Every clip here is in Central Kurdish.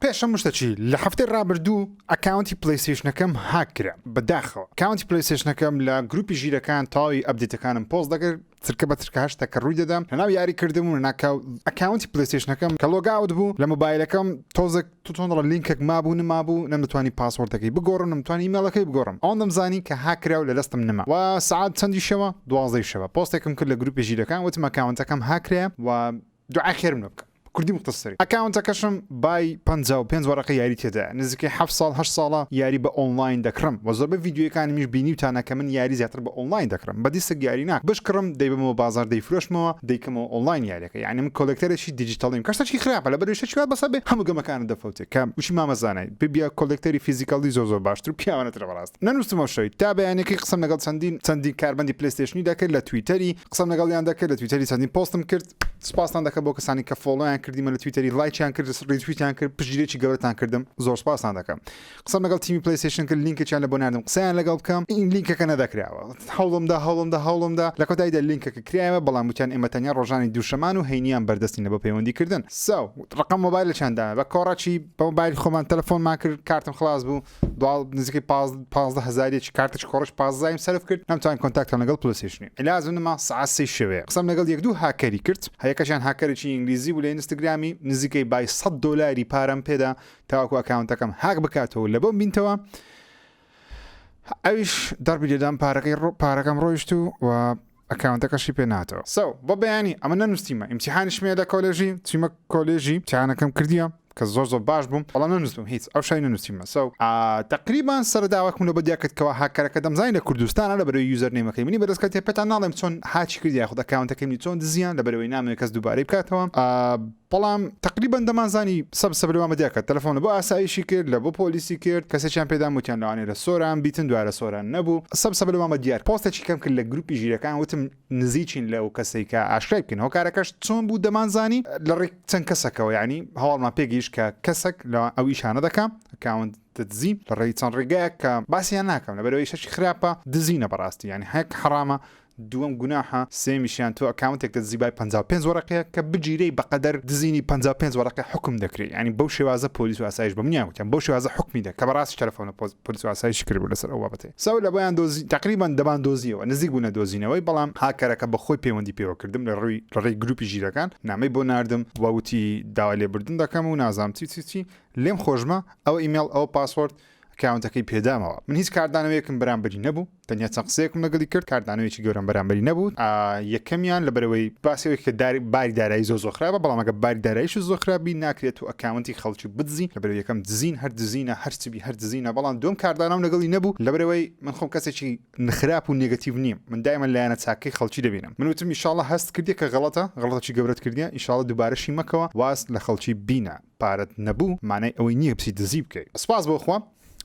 پێش هەموو شتەکی لە هەفتەی ڕابردوو ئەکاونتی پلەیستەیشنەکەم هاک کرا بەداخەوە کاونتی پلەیستەیشنەکەم لە گروپی ژیرەکان تەواوی ئەبدیتەکانم پۆست دەکرد چرکە بە چرکە هەر شتەکە ڕووی دەدا لەناو یاری کردم و ناکاو ئەکاونتی پلەیستەیشنەکەم کە لۆگاوت بوو لە مۆبایلەکەم تۆزێک توتۆنڕە لینکێک مابوو نمابوو نەمدەتوانی پاسۆردەکەی بگۆڕم نەمتوانی ئیمێڵەکەی بگۆڕم ئەوەن دەمزانی کە هاک کرا و لە دەستم نەما و سەعات چەندی شەوە دوازدەی شەوە پۆستێکم کرد لە گروپی ژیرەکان وتم ئەکاونتەکەم هاک کرا و دوعای خێرم لێ بکە کوردی مختصری. ئەکاونتەکەشم بای پەنجا و پێنج وەرەقەی یاری تێدایە نزیکەی حەفت ساڵ هەشت ساڵە یاری بە ئۆنڵاین دەکڕم وە زۆربەی ڤیدیۆیەکانمیش بینیوتانە کە من یاری زیاتر بە ئۆنڵاین دەکڕم بە دیسک یاری ناکڕم بشکڕم دەیبەمەوە بازاڕ دەیفرۆشمەوە دەیکەمەوە ئۆنڵاین یاریەکە یانی من کۆلێکتەرێکی دیجیتەڵیم کە شتێکی خراپە لەبەرئەوەی شتێکی وا بەسە بێ هەموو گەمەکانت دەفەوتێ کە وشی مامە زانای ببیە کۆلێکتەری فیزیکەڵی زۆر زۆر باشتر و پیاوانەترە بەڕاست نەنووستمەوە شەوی تا بەیانیەکەی قسەم لەگەڵ چەندین چەندین کارمەندی پلەیستێشنی دەکرد لە تویتەری قسەم لەگەڵیان دەکرد لە تویتەری چەندین پۆستم کرد سپاستان دەکەم بۆ کەسانی کە فۆڵۆیان کردیمە لە تویتەری لایچیان کرد ڕیتویتیان کرد پشتگیرێکی گەورەتان کردم زۆر سپاستان دەکەم قسەم لەگەڵ تیمی پلیسیشن کرد لینکێکیان لە بۆ ناردم قسەیان لەگەڵ بکەم این لینکەکە نەدەکراوە هەوڵمدا هەوڵمدا هەوڵمدا لە کۆتاییدا لینکەکە کرایەوە بەڵام وتیان ئێمە تەنیا ڕۆژانی دووشەمان و هەینیان بەردەستین لە بۆ پەیوەندی کردن ساو ڕقم مۆبایلەکیان دا بە کۆڕەکی بە مۆبایل خۆمان تەلەفۆنمان کرد کارتم خلاص بوو دواڵ نزیکەی پاز پازدە هەزاریەکی کارتەکی کۆڕەکی پازدایم سەرف کرد نەمتوانی کۆنتاکتان لەگەڵ پلەسێشنی ئیلازم نما سەعات سێی شەوێ قسەم لەگەڵ یەک دوو هاکەری کرد هەیەکەشیان هاکەرێکی ئینگلیزی بوو لە ئینستگرامی نزیکەی بای سەد دۆلاری پارەم پێدا تاوەکو ئەکاونتەکەم هاک بکاتەوە لە بۆم بینتەوە ئەویش دەربی لێدام پارەکەی ڕۆ پارەکەم ڕۆیشت و و ئەکاونتەکەشی پێ ناتۆ. سەو بە بەیانی ئەمە نەنووسیمە ئیمتیحانیشم هەیە لە کۆلێژی چیمە کۆلێژی ئیمتیحانەکەم کردیە کە زۆر زۆر باش بووم بەڵام نەنووسم هیچ ئەو شای نەنووسیمە سەو تەقریبان سەرە داواکم لەوە دیا کرد کەوا هاککەرەکە دەمزانی لە کوردستانە لەبەرەوەی یوزەر نەیمەکەی منی بەدەست کەوتیە پێتان ناڵێم چۆن هاکی کردیە یاخود ئەکاونتەکەی منی چۆن دزیان لەبەرەوەی نامەوێ کەس دووبارەی بکاتەوە بەڵام تەقریبەن دەمانزانی سەب سەبرمان بە دیار کرد تەلەفۆن لە بۆ ئاسایشی کرد لە بۆ پۆلیسی کرد کەسێکیان پێدام وتیان لەوانەیە لە سۆران بیتن دوای لە سۆران نەبوو سەب سەبرمان بە دیار پۆستێکی کەم کرد لە گروپی ژیرەکان وتم نزیکین لەو کەسەی کە ئاشکرای بکەین هۆکارەکەش چۆن بوو دەمانزانی لە ڕێک چەند کەسەکەوە یانی هەواڵمان پێ گەیشت کە کەسەک لە ئەو ئیشانە دەکا ئەکاونت دزی لە ڕێی چەند ڕێگایەک کە باسیان ناکەم لەبەرەوەی شەشی خراپە دزینە بەڕاستی یانی هەک حەڕامە دووەم گوناحە سێیەمیشیان تۆ ئەکاونتێک دەدزی بای پەنجا و پێنج وەرەقەیە کە بگیرێی بەقەدەر دزینی پەنجا و پێنج وەرەقە حوکم دەکرێی یانی بەو شێوازە پۆلیس و ئاسایش بە منیان وتیان بەو شێوازە حوکمی دەکەن کە بەڕاستیش تەلەفۆنە پۆلیس و ئاسایشی کردبوو لەسەر ئەو بابەتەی سەو لە بۆیان دۆزی تەقریبەن دەبان دۆزیەوە نزیک بوو نەدۆزینەوەی بەڵام هاککەرەکە بە خۆی پەیوەندی پێوە کردم لە ڕووی لە ڕێی گروپی ژیرەکان نامەی بۆ ناردم وە وتی داوای لێبوردن دەکەم و نازانم چی چی چی لێم خۆشمە ئەوە ئیمێڵ ئەوە پاسۆرد ئەکاونتەکەی پێدامەوە من هیچ کاردانەوەیەکم بەرامبەری نەبوو تەنیا چەند قسەیەکم لەگەڵی کرد کاردانەوەیکی گەورەم بەرامبەری نەبوو یەکەمیان لە بەرەوەی باسەوەی کە داری باری دارایی زۆ زۆخرابە بەڵامەکە باری دارایش زۆخرابی ناکرێت و ئەکاونتی خەڵکی بدزی لە بەرەوە یەکەم دزین هەر دزینە هەرچبی هەر دزینە بەڵام دوم کاردانەوە لەگەڵی نەبوو لە بەرەوەی من خۆم کەسێکی نخراپ و نگەتیڤ نیم من دایمە لایەنە چاکەی خەڵکی دەبینم من وتم ئیشاڵە هەست کردی کە غەڵەتە غەڵەتەکی گەورەت کردیە ئیشاڵە دوبارەشی مەکەوە واز لە خەڵکی بینە پارەت نەبوو مانای ئەوەی نییە بچی دزی بکەی. سپاس بۆ خوا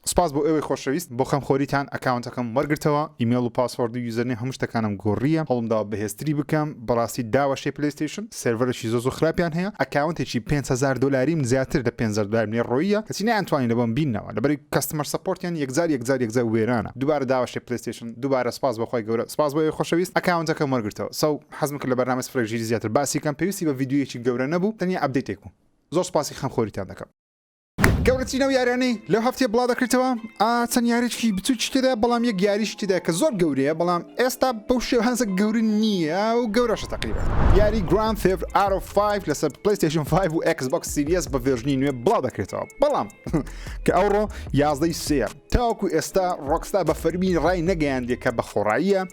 سپاس بۆ ئێوەی خۆشەویست بۆ خەم خۆریتان ئەکاونتەکەم وەرگرتەوە ئیمێڵ و پاسۆرد و یوزەرنێم هەموو شتەکانم گۆڕییە هەوڵم داوە بەهێزتری بکەم بەڕاستی داوەشێی پلەیستەیشن سێرڤەرێکی زۆر زۆر خراپیان هەیە ئەکاونتێکی پێنج هەزار دۆلاریم زیاتر لە پێنج هەزار دۆلارم لێ ڕۆییە کەچی نەیانتوانی لە بۆم بیننەوە لەبەر کەستمەر سەپۆرتیان یەکجار یەکجار یەکجار وێرانە دووبارە داوەشێی پلەیستەیشن دووبارە سپاس بۆ خوای گەورە سپاس بۆ ئێوەی خۆشەویست ئەکاونتەکەم وەرگرتەوە سەو حەزم کرد لە بەرنامەی سفرێک ژیری زیاتر باسی کەم پێویستی بە ڤیدیۆیەکی گەورە نەبوو تەنیا ئەپدەیتێک بوو. زۆر سوپاسی خەم خۆریتان دەکەم. گەورەترین ئەو یاریانەی لەو هەفتەیە بڵاو دەکرێتەوە ئا چەند یاریچکی بچوکی تێدا بەڵام یەک یاریش تێدا کە زۆر گەورەیە بەڵام ئێستا بەو شێوهانزە گەورە نییە و گەورەشە تەقریبا یاری گراند ثێفت ئارۆ 5 لەسەر پلەیستێشن 5 و ئێکس بۆکس سیریەس بە ڤێرژنی نوێ بڵاو دەکرێتەوە بەڵام کە ئەوڕۆ یازدەی سێ تاوەکو ئێستا ڕۆکستا بە فەرمی ڕای نەگەیاندێ کە بە خۆڕاییە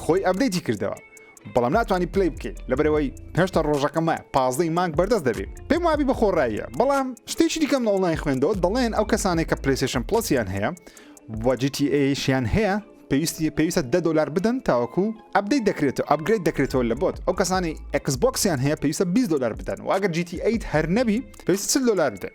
خۆی ئەبدەیتی کردەوە بەڵام ناتوانانی پلی بکەیت لەبەرەوەی هێشتا ڕۆژەکەمە پازدەی مانگ بەردەست دەبێت پێم وابی بە خۆڕاییە بەڵام شتێکی دیکەم لە ئۆنلاین خوێندەوە دەڵێن ئەو کەسانێک کە پلیسیشن پلسیان هەیە وەجیتیشیان هەیە پێویستی پێویستە دە دلار بدەن تاوەکو ئەبدەی دەکرێتەوە ئەبگرێت دەکرێتەوە لە بۆت ئەو کەسانی ئەکسبکسیان هەیە پێویستە 20 دلار بدەن واگەر جیتی ئەیت هەر نەبی پێویست دلار بدەن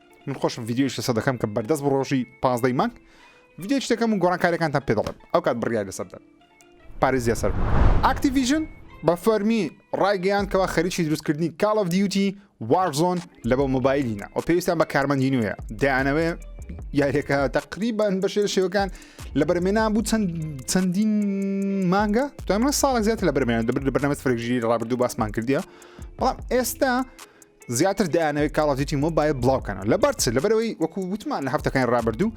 من خۆشم ڤیددیوش لەسەر دەکەم کە بەردەست بڕۆژی پازدەی مانگ ڤیددیوش دەکەم و گۆڕانکاریەکانتان پێ دەڵێم ئەو کات بڕیار لەسەردەم پارێزیە سەر ئاکتیڤژن بە فەرمی ڕایگەیاندکەوە خەریکی دروستکردنی کاڵ ئەف دیوتی وارزۆن لە بۆ مۆبایلینە و پێویستیان بە کارمەندی نوێە دەیانەوێ یاریەکە تقریبان بە شێر شێوەکان لە بەرمێنان بوو چەند چەندین مانگە دوای ساڵ زیاتر لە بەرمێنان دەبر لە بەرنامە فرەژیری ڕابردوو باسمان کردیە بەڵام ئێستا زیاتر دەیانەوەی کاڵ دیتی مۆبایل بڵاوکەنەوە لەبەر چ لەبەرەوەی وەکو وتمان لە هەفتەکانی ڕابردوو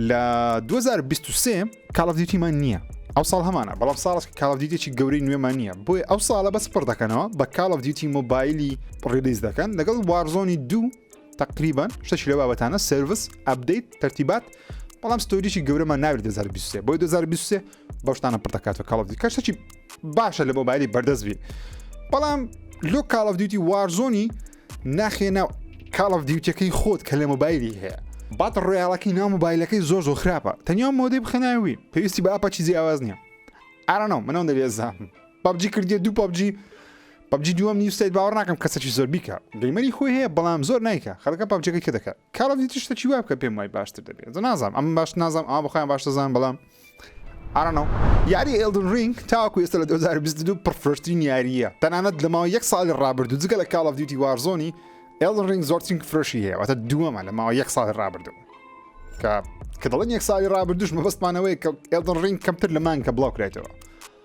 لە 2023 کاڵ دیتیمان نییە ئەو ساڵ هەمانە بەڵام ساڵس کاڵ دیتێکی گەورەی نوێمان نییە بۆی ئەو ساڵە بەس پڕ دەکەنەوە بە کاڵ دیتی مۆبایلی ڕیلیز دەکەن لەگەڵ وارزۆنی دوو تقریبان شتەشی لە بابەتانە سرویس ئەبدەیت تەرتیبات بەڵام ستۆریی گەورەمان ناوێت 2023 بۆی 2023 بەو شتانە پڕ دەکات و کاڵ دیکە شتێکی باشە لە مۆبایلی بەردەست بی بەڵام لۆ کاڵ دیوتی وارزۆنی ناخێ ناو کاڵ دیوتەکەی خۆت کە لە مۆبایلی هەیە بات ڕۆیاڵەکەی ناو مۆبایلەکەی زۆر زۆر خراپە تەنیا مۆدەی بخەناوی پێویستی بە ئاپەچی جیاواز نییە ئارانەوە منەوە دەبێزام پبجی کردی دوو پبجی پبجی دووەم نیوسیت باوە ناکەم کەسەکی زۆر بیکە گەیمەری خۆی هەیە بەڵام زۆر نیکە خەڵەکە پبجەکەی کە دەکات کاڵ دیتیشتەکی وابکە پێم وای باشتر دەبێت نازانم ئەم باش نازانم ئا بخۆیان باشتەزان بەڵام I don't know یاری ئێلدن رینگ تاوەکو ئێستا لە 2022 پڕفرۆشترین یارییە تەنانەت لە ماوە یەک ساڵی ڕابردوو جگە لە کاڵ دیوتی وارزۆنی ئێلدن رینگ زۆرترین فرۆشی هەیە واتە دووەمە لە ماوە یەک ساڵی ڕابردوو کە کە دەڵێن یەک ساڵی ڕابردوش مەبەستمانەوەی کە ئێڵدن ڕینگ کەمتر لە مانکە بڵاو کرێتەوە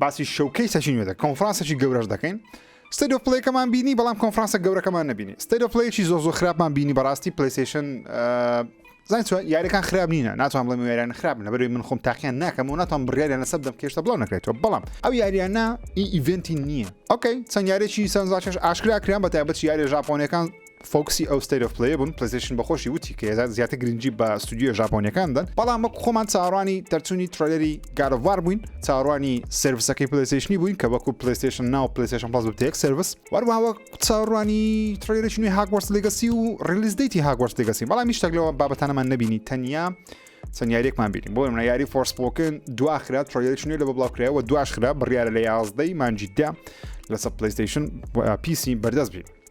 باسی شەوکەی سەچی نوێ دەکەین کۆنفرانسێکی گەورەش دەکەین ستەد و پلەیەکەمان بینی بەڵام کۆنفرانسە گەورەکەمان نبینی ستەد و پلەیەکی زۆ زۆ خراپمان بینی بەڕاستی پلیسیشن زان یاریەکان خراپ نینە ناتوان بڵێ یاریان خراپ لە بەروی من خۆم تاقییان ناکەم و ناتوان بڕیاریان لەسەر دەم کێشتە بڵاو نەکرێتەوە بەڵام ئەو یاریانە ئی ئیڤنتی نییە ئۆکەی چەند یارێکی سەرزاچش ئاشکراکران بە تایبەت یاری ژاپۆنەکان فۆکسی ئەو ستەیت ئۆف پلەیە بوون، پلەیستەیشن بە خۆشی وتی کە ئێجا زیاتر گرنگی بە ستۆدیۆ ژاپۆنیەکان دەدەن، بەڵام وەک خۆمان چاوەڕوانی دەرچوونی ترەیلەری گاد ئۆف وار بووین، چاوەڕوانی سێرڤسەکەی پلەیستەیشنی بووین کە وەکو پلەیستەیشن ناو و پلەیستەیشن پڵەس ببتە یەک سێرڤس، و هەروەها وەک چاوەڕوانی ترەیلەرێکی نوێی هاگوارتس لیگەسی و ڕیلیز دەیتی هاگوارتس لیگەسین، بەڵام هیچ شتێک لەو بابەتانەمان نەبینی تەنیا چەند یاریەکمان بینی بۆ نمونە یاری فۆرسپۆکن دوا خرا ترەیلەرێکی نوێ لەوە بڵاو کرایەوە دواش خرا بڕیارە لە یازدەی مانگی دە لەسەر پلەیستەیشن و پیسی بەردەست بین.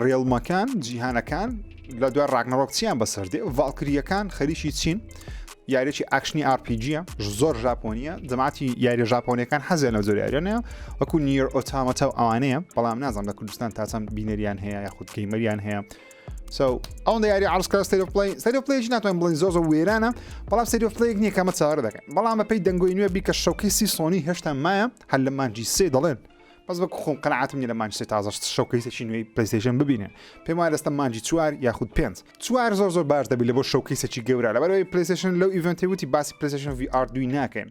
ڕێڵمەکان، جیهانەکان، لە دوای ڕاگنەڕۆک چیان بەسەر دێ ڤالکریەکان خەریکی چین یاریی ئاکشنی ئاپیجیە زۆر ژاپۆنیە جەماتی یاریە ژاپۆنیەکان حەزیان لە زۆریارێنە وەکو نیر ئۆتامەتە و ئەوانەیە بەڵام نازان لە کوردستان تاچەند بینەریان هەیە یاخود گەیمەریان هەیە ئەو یاری ئارسکار سەرپلای سەرپلێژ ناتوان بڵین زۆ زۆ وێرانە بەڵام سەرپلێک نییە کەمە چاوەڕ دەکەن بەڵام بەپی دەنگۆی نوێ بیکە شەکەی سی سۆنی هێشتا مایە هەر لە مانجی سێ دەڵێن بەس بەک خۆم قەنعاتم نیە لە مانج سێ تازە شەوکەیسێکی نوێی پلەیستێشن ببینێ پێم وایە لەستە مانجی چوار یاخود پێنج چوار زۆر زۆر باش دەبی لە بۆ شەوکەیسێکی گەورە لەبەرەوەی پلەیستێشن لەو ئیڤنتی وتی باسی پلەیستێشن وی ئار دوی ناکەین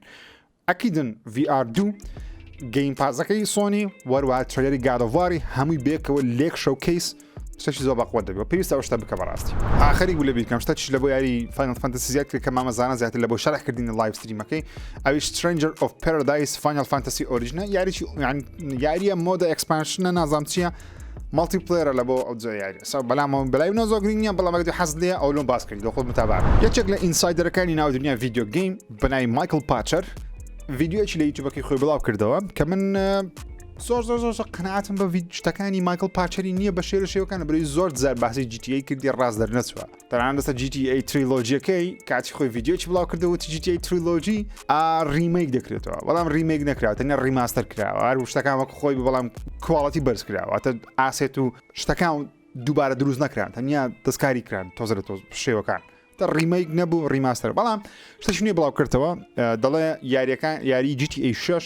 ئەکیدن وی ئار دوو گەیم پازەکەی سۆنی وەروە ترێری گادەواری هەمووی بێکەوە لێک شەوکەیس شتەکی زۆر بەقوەت دەبێ و پێویستە ئەو شتە بکە بەڕاستی. ئا خەریک بوو لە بیرکەم شتەکیش لە بۆ یاری Final Fantasy زیاد کرد کە مامە زانا زیاتر لە بۆ شەرح کردنی لایڤ ستریمەکەی ئەویش Stranger of Paradise Final Fantasy Origin ە یاریی یان یارییە مۆدە ئێکسپانشنە نازام چییە مەڵتی پلێرە لە بۆ ئەو جۆ یاری سا بەلامەوە بەلای منەوە زۆر گرنگ نییە بەڵام ئەگەر حەزت لێیە ئەو لۆم باس کردی دۆ خۆت متابا بکە یەکێک لە ئینسایدەرەکانی ناو دنیا ڤیدیۆ گەیم بە ناوی Michael Patcher ڤیدیۆیەکی لە یوتیوبەکەی خۆی بڵاو کردەوە کە من زۆر زۆر زۆر قەنعاتم بە شتەکانی ماکل پاچەری نییە بە شێر شێوەکان بری زۆر زار باسی جیتی کردی ڕاست دەرنەچوە تەنان دەسە جیتی تریلۆجیەکەی کاتی خۆی یددیوچ بڵاو کردەوە جیتی تریلۆجی ڕیمەیک دەکرێتەوە بەڵام ڕیمەیک نەکرا تەنیا ڕیماستەر کراوە هەر شتەکان وەک خۆی بەڵام کواڵەتی بەرز کراوەتە ئاسێت و شتەکان دووبارە دروست نەکران تەنیا دەستکاری کران تۆزە لە تۆ شێوەکان تا ڕیمەیک نەبوو ڕیماستەر بەڵام شتەشنی بڵاو کردەوە دەڵێ یاریەکان یاری جیتی ئەی شش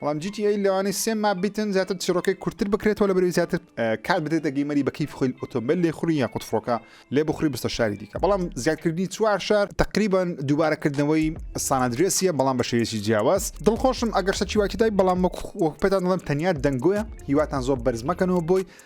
بەڵام جی تی ئەی لەوانەیە سێ ماپ بیتن زیاتر چیرۆکەی کورتتر بکرێتەوە لە بەرەوەی زیاتر اه، کات بدێتە گەیمەری بە کیف خۆی ئۆتۆمبیل لێ خوڕی یاخود فڕۆکە لێ بخوری بستە شاری دیکە بەڵام زیادکردنی چوار شار تقریبا دووبارەکردنەوەی سانادرێسیە بەڵام بە شێوەیەکی جیاواز دڵخۆشم ئەگەر شتەکی وای تێدای بەڵام وەک وەک پێتان دەڵێم تەنیا دەنگۆیە هیواتان زۆر بەرز مەکەنەوە بۆی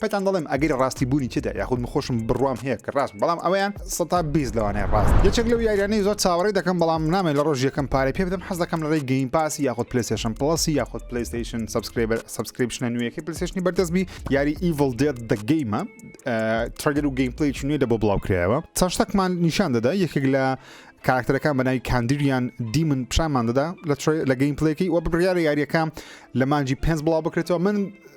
پێتان دەڵێم ئەگەری ڕاستی بوونی تێدا یاخود من خۆشم بڕوام هەیە کە ڕاستم بەڵام ئەوەیان سەتا بیست لەوانەیە ڕاست یەکێک لەو یاریانەی زۆر چاوەڕێی دەکەم بەڵام نامەوێت لە ڕۆژی یەکەم پارەی پێ بدەم حەز دەکەم لەڕێی گەیم پاسی یاخود پلەیستێشن پڵەسی یاخود پلەیستێشن سەبسکرێبەر سەبسکریپشنە نوێیەکەی پلەیستێشنی بەردەست بی یاری ئیڤڵ دێد دە گەیمە ترەیلەر و گەیم پلەیەکی نوێ لە بۆ بڵاو کرایەوە چەند شتەکمان نیشان دەدا یەکێک لە کاراکتەرەکان بە ناوی کاندیریان دیمن پیشانمان دەدا لە ترەی- لە گەیم پلەیەکەی وە بڕیارە یاریەکە لە مانجی پێنج بڵاو بکرێتەوە من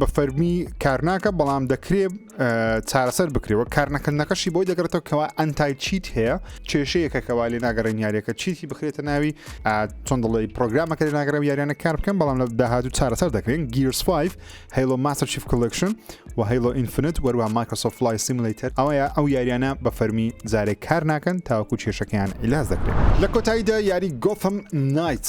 بە فەرمی کارناکە بەڵام دەکرێ چارەسەر بکرێەوە کارنەکردنەکەشی بۆی دەگرێتەوە کەوا ئەنتای چیت هەیە کێشەیەکە کەوا لێ ناگەڕێن یاریەکە چیتی بخرێتە ناوی چۆن دڵی پرۆگرامەکە لە ناگەرە یاریانە کار بکەم بەڵام لە داهاتوو چارەسەر دەکرێن گیرس 5 هەیڵۆ ماستەر شیف کلکشن و هەیڵۆ ئینفنت وەروە مایکرۆسۆف فلای سیملیتەر ئەوەیە ئەو یاریانە بە فەرمی جارێک کار ناکەن تاوەکو کێشەکەیان ئیلاز دەکرێت لە کۆتاییدا یاری گۆفم نایت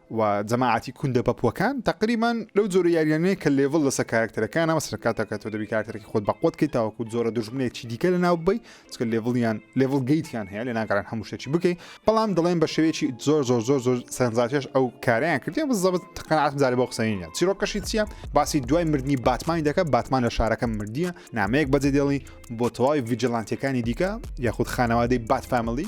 و جەماعەتی کوندە پەپوەکان تەقریبەن لەو جۆرە یاریانەیە کە لێڤڵ لەسەر کارکتەرەکان ئەمە سەرکاتەکە تۆ دەبی کارکتەرەکە خۆت بەقوت کەی تاوەکو جۆرە دژمنێکی دیکە لە ناو بی چکە لێڤڵیان لێڤڵ گەیتیان هەیە لە ناگەران هەموو شتێکی بکەی بەڵام دەڵێن بە شێوەیەکی زۆر زۆر زۆر زۆر سەرنجاتێش ئەو کاریان کردیان بزەبت تقنعات جارێ بۆ قسەینە چیرۆکەشی چییە باسی دوای مردنی باتمانی دەکە باتمان لە شارەکە مردیە نامەیەک بەجێ دێڵی بۆ تەواوی ڤیجلانتەکانی دیکە یاخود خانەوادەی بات فامیلی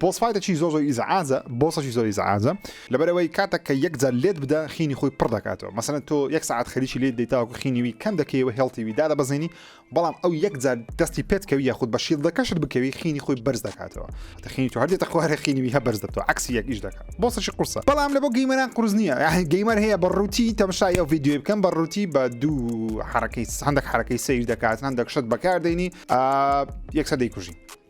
بۆس فایتەکی زۆر زۆر ئیزعاجە بۆسەکی زۆر ئیزعاجە لەبەرەوەی کاتەک کە یەک جار لێت بدا خینی خۆی پڕ دەکاتەوە مەسەن تۆ یەک ساعت خەریکی لێت دەیتاوەکو خینیوی کەم دەکەیەوە هێڵتیوی دادە بەزێنی بەڵام ئەو یەک جار دەستی پێت کەوی یاخود بە شیل دەکەشت بکەوی خینی خۆی بەرز دەکاتەوە تەخینی تو هەردێتە خوارە خینیوی هە بەرز دەبتەوە عکسی یەک ئیش دەکات بۆسەکی قورسە بەڵام لە بۆ گەیمەران قرس نییە یاحین گەیمەر هەیە بە ڕووتی تەمشای ئەو یددیوی بکەم بە ڕووتی بە دوو حرەکەی هەندێک حرەکەی سیر دەکات هەندێک شت بەکاردێنی یەکسە دەیکوژی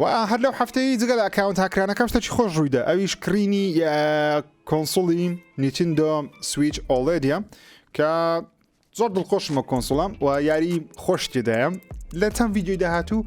و هەر لەو هەفتەی جگە لە ئەکاونت هاکرانەکە شتەکی خۆش ڕوویدا ئەویش کڕینی کۆنسڵی نیتندۆ سویچ ئۆڵێدە کە زۆر دڵخۆشمە کۆنسڵم و یاری خۆش تێدایە لە چەند ویددیوی داهاتوو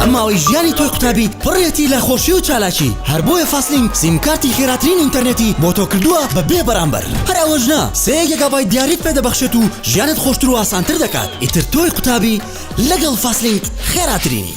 ئەم ماوەی ژیانی تۆی قوتابیت پڕێتی لە خۆشی و چالاکی هەر بۆیە فاستلینک سیمکارتی خێراترین ئینتەرنێتی بۆ تۆ کردووە بە بێ بەرامبەر هەر ئەوەش نا سێ گێگابای دیاریت پێ دەبەخشێت و ژیانت خۆشتر و ئاسانتر دەکات ئیتر تۆی قوتابی لەگەڵ فاستلینک خێراترینی.